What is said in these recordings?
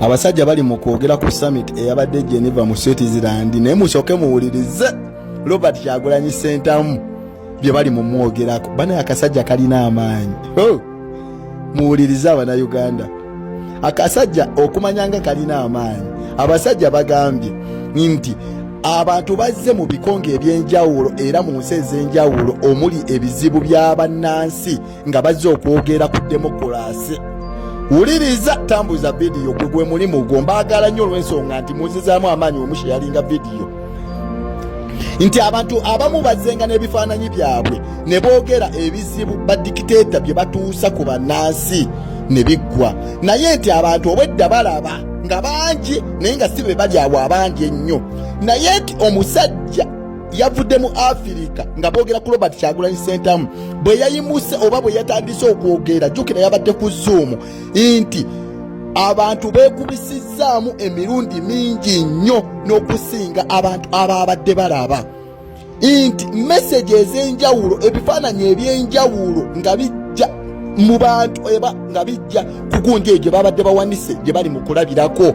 abasajja bali mu kwogera ku summit eyabadde e geneva mu switzerland naye musooke muwulirize robert kyagulanyi sentamu bye bali mu mwogerako banaye akasajja kalina amaanyi oh! muwulirize abanauganda akasajja okumanya nga kalina amaanyi abasajja bagambye nti abantu bazze mu bikonge eby'enjawulo era mu nsi ez'enjawulo omuli ebizibu by'abannansi nga bazze okwogera ku demokulaasi wuliriza tambuza vidiyo gwe gwe mulimu gwo mbaagala nnyo olw'ensonga nti muzizaamu amaanyi wemushe yalinga vidiyo nti abantu abamu bazenga n'ebifaananyi byabwe ne boogera ebizibu badikiteeta bye batuusa ku bannansi ne biggwa naye nti abantu obwedda balaba nga bangi naye nga si be bali awo abangi ennyo naye nti omusajja yavudde mu afirika nga boogera ku robert kyagulanyi sentamu bwe yayimuse oba bwe yatandise okwogera jukira yabadde ku zuumu nti abantu beekubisizzaamu emirundi mingi nnyo n'okusinga abantu abaabadde balaba nti meseji ez'enjawulo ebifaananyi eby'enjawulo nga bijja mu bantu eba nga bijja kugunja egyo babadde bawanise gye bali mu kulabirako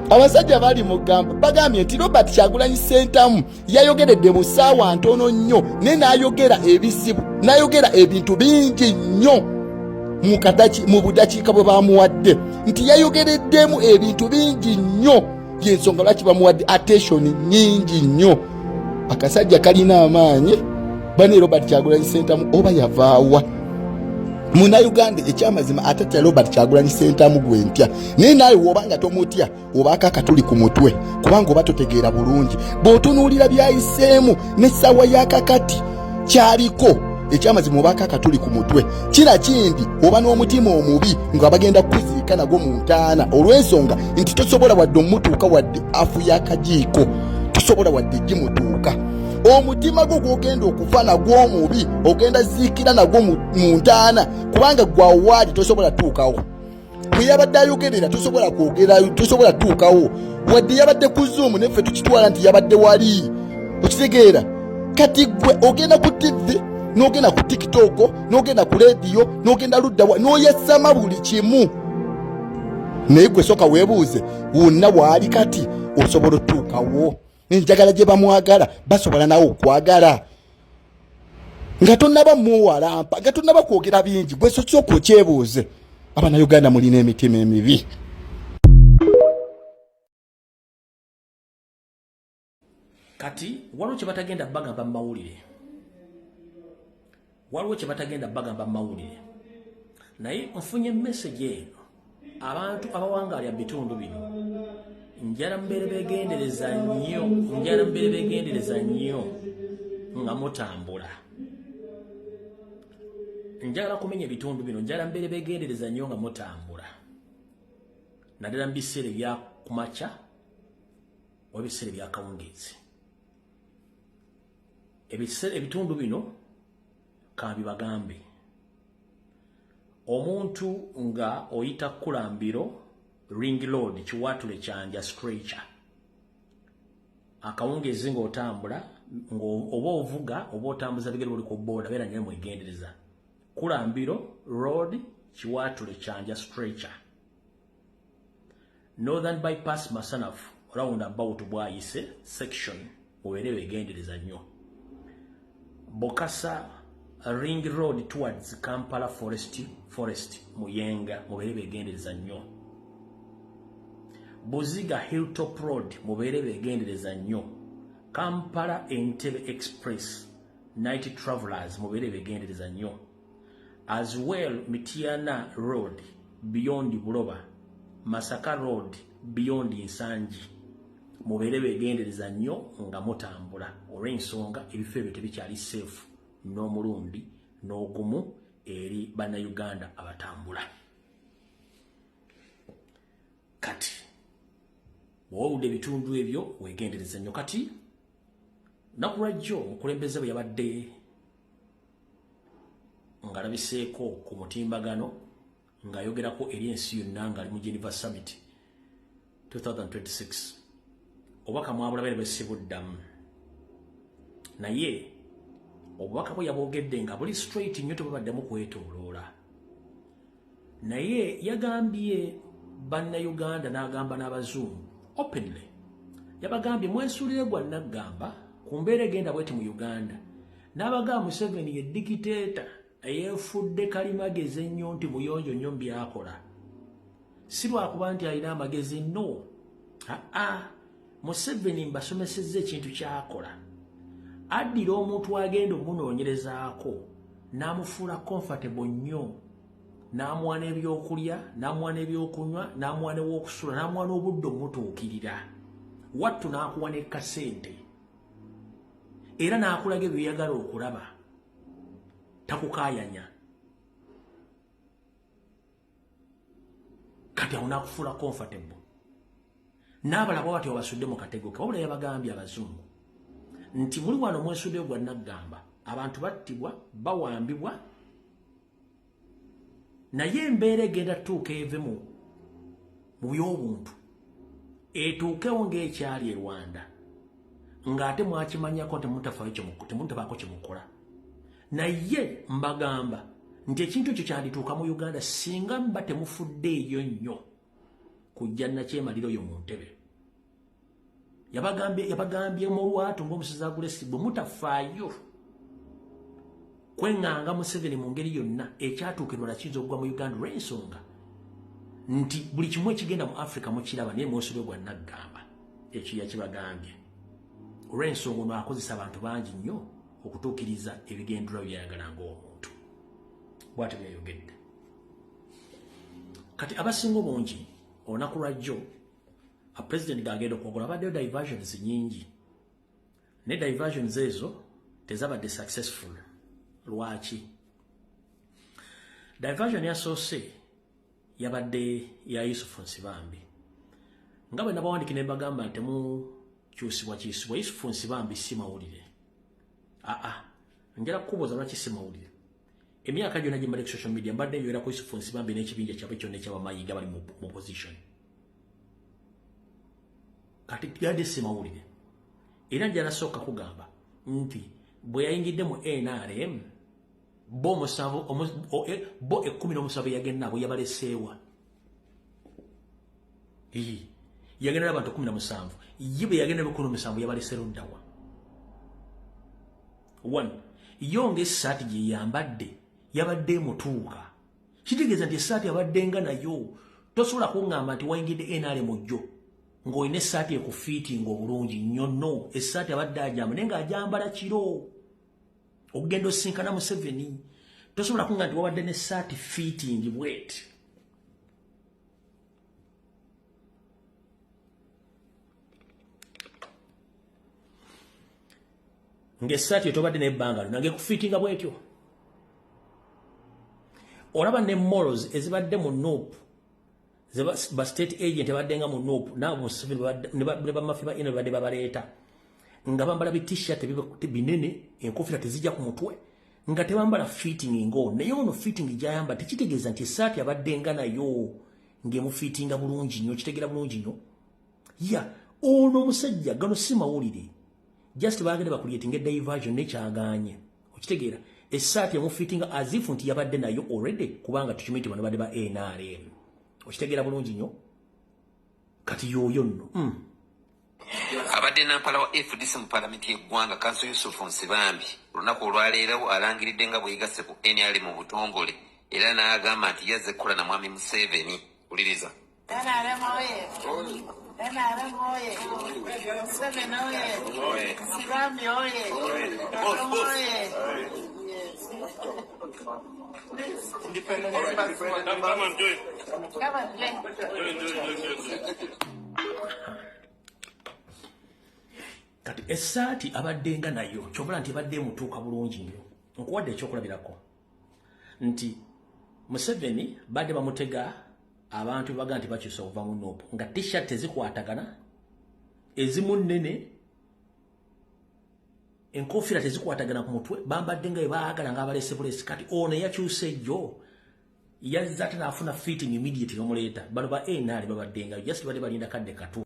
abasajja bali mugamba bagambye nti robert kyagulanyi sentamu yayogeredde mu saawa ntono nnyo naye nayogera ebizibu nayogera ebintu bingi nnyo mu budakiika bwe bamuwadde nti yayogereddemu ebintu bingi nnyo yensonga lwaki bamuwadde attention nyingi nnyo akasajja kalina amaanyi bane robert kyagulanyi sentamu oba yavaawa muna uganda ekyamazima ate tya robert kyagulanyi sentamu gwe ntya naye naawe wobanga tomutya obaako akatuli ku mutwe kubanga oba totegeera bulungi bw'otunuulira byayiseemu n'essaawa yakakati kyaliko ekyamazima obaako akatuli ku mutwe kira kindi oba n'omutima omubi nga bagenda kukuziika nagwo mu ntaana olw'ensonga nti tosobola wadde omutuuka wadde afu y'akajiiko tosobola wadde gimutuuka omutima gwo gwogenda okufa nagwo omubi ogenda ziikira nagwo mu ntaana kubanga gwawaali tosobola tuukawo bwe yabadde ayogerera tosobola kwogera tosobola tuukawo wadde yabadde ku zuumu neffe tukitwala nti yabadde wali okitegeera kati gwe ogenda ku tivi nogenda ku tikitoko nogenda ku lediyo nogenda luddawa noyesama buli kimu naye gwe soka webuuze wonna waali kati osobola otuukawo enjagala gye bamwagala basobola nawe okwagala nga tonaba muwalampa nga tonaba kwogera bingi gwesosi oku okyebuuze abana uganda mulina emitima emibi kati waliwo kyebatagenda bagamba mumawulire waliwo kye batagenda bagamba mu mawulire naye nfunye mesegi eno abantu abawangaalya mu bitundu bino njala mubeere begendereza nnyo njala mubeere begendereza nnyo nga mutambula njagala kumenya ebitundu bino njala mubeere begendereza nnyo nga mutambula naddala mu biseera ebya kumakya oba ebiseera ebyakawungeezi ebiseera ebitundu bino kabibagambe omuntu nga oyita kulambiro ring load kiwatule kyanja stretcher akawungezi ng'otambula oba ovuga oba otambuza bigere buli ku booda beera nyo mwegendereza kulambiro road kiwatule kyanja stretcher northern bypass masanafu round about bwayise section mubeere begendereza nnyo bukasa ring road towards kampala forest forest muyenga mubeere begendereza nnyo buziga hilltop road mubeere begendereza nnyo kampala entebe express night travelers mubeere begendereza nnyo as well mitiana road beyond buloba masaka road beyond nsangi mubeere begendereza nnyo nga mutambula olw'ensonga ebifo ebyo tebikyali seefu n'omulundi n'ogumu eri bannayuganda abatambula kati bwowuludde ebitundu ebyo wegendereza nnyo kati nakulwajjo omukulembeze bwe yabadde ngalabiseeko ku mutimbagano ng'ayogerako eri ensi yonna ng'ali mu geneva summit 2026 obubaka mwabulabe ne bwesibuddamu naye obubaka bwe yabwogedde nga buli straight nnyo tebubaddemu kwetoloola naye yagambye bannayuganda n'agamba n'abazungu openly yabagambye mwesulire gwa naggamba ku mbeera egenda bweti mu uganda n'abagamba museveni ye dikiteeta eyeefudde kalimagezi ennyo nti muyonjo nnyo mu byakola si lwakuba nti alina amagezi no aa museveni mbasomesezza ekintu kyakola addira omuntu agenda omunoonyerezaako n'amufuula comfortable nnyo n'amuwa n'ebyokulya n'amuwa n'ebyokunywa n'amuwa n'ew'okusula n'amuwa n'obudde omutuukirira wattu n'akuwa ne kasente era n'akulaga ebyoyagala okulaba takukaayanya kati awo nakufuula comfortable n'abalaba bati obasudde mu katego ke wabula yabagambye abazungu nti muli wano mwesudde gwa naggamba abantu battibwa bawambibwa naye embeera egenda tuuka eve mu mu by'obuntu etuukewo ng'ekyali e rwanda ng'ate mwakimanyako nti mutafayo temutabaako kyemukola naye mbagamba nti ekintu ekyo kyandituuka mu uganda singa mba temufudde eyo nnyo kujja nakyemalira oyo mu ntebe yabagambye mu lwatu ngaomusizi agulesi bwe mutafaayo kweŋŋanga museveni mu ngeri yonna ekyatuuka enola kiyinza okugwa mu uganda olw'ensonga nti buli kimu ekigenda mu africa mukiraba naye mwosolo gwa naggamba ekyo yakibagambye olw'ensonga ono akozesa abantu bangi nnyo okutuukiriza ebigenderawo byayagala ng'omuntu bwatyo byayogedde kati abasinga obungi olunaku lwajjo a president gaagenda okwogula abaddeyo diversions nyingi ne diversions ezo tezabadde successful lwaki diversion yasoose yabadde ya yusufu nsibambi nga bwe nabawandiki ne mbagamba nti temukyusibwa kyusibwa yusufu nsibambi si mawulire aa njala kukubuuza lwaki si mawulire emyaka gyona gye mbadde ku social media mbadde nywera ku yusufu nsibambi n'ekibinja kyabwe kyonna ekyabamayiga bali mu opposition kati gade simawulire era njanasooka kugamba nti bwe yayingidde mu nrm bo omusanvu eh, bo ekkumi n'omusanvu yagenna bwe yabaleseewa yagenda nabantu kumi na musanvu ye bwe yagenda bikulu musanvu yabalese luddawa one yo ngaesaati gye yambadde yabadde emutuuka kitegeeza nti esaati abadde nga nayo tosobola kuŋŋamba nti wayingidde enaale mujjo ng'olina essaati ekufiitinga obulungi nnyo no essaati abadde ajamba naye ng'ajambala kiro okugenda osinkana museveni tosobola kunga nti wabadde ne saati fitting bwet ngaesaati etobadde nebbanga lyo nange kufitinga bwetyo olaba ne mols ezibadde mu nup ba state agent badde nga mu nup naabo museveni ne bamafi ba ino badde babaleeta nga bambala bi t-shirt binene enkofira tezijja ku mutwe nga tebambala fitting ngo naye ono fitting gyayamba tekitegeeza nti esaati abadde nga nayo ng'emufiitinga bulungi nnyo kitegera bulungi nnyo ya ono omusajja gano si mawulire just bagenda bakuliyetinga diversion nekyaganye okitegeera esaati emufitinga azifu nti yabadde nayo already kubanga tukimanyi ti bano badde ba nrm okitegeera bulungi nyo kati yoyo nno mm. abadde nampala wa fdc mu palamenti yeggwanga kanso yusufu nsibambi olunaku olwaleerawo alangiridde nga bweyegasse ku nrm mu butongole era n'agamba nti yazze kukola na mwami museveni uliriza NRM oye! NRM oye! Museveni oye! Sibambi oye! Katum oye! kati esaati abaddenga nayo kyobala nti ebadde emutuuka bulungi nnyo nkuwadde ekyokulabirako nti museveni badde bamutega abantu bebaga nti bakyusa okuva mu nup nga tshirt tezikwatagana ezimu nnene enkofiira tezikwatagana ku mutwe bambadde nga ebaagala nga abalese bulesi kati ono eyakyusa ejjo yazza ate naafuna fitting immediate nomuleeta bano ba nr babaddengayo just badde balinda kadde katu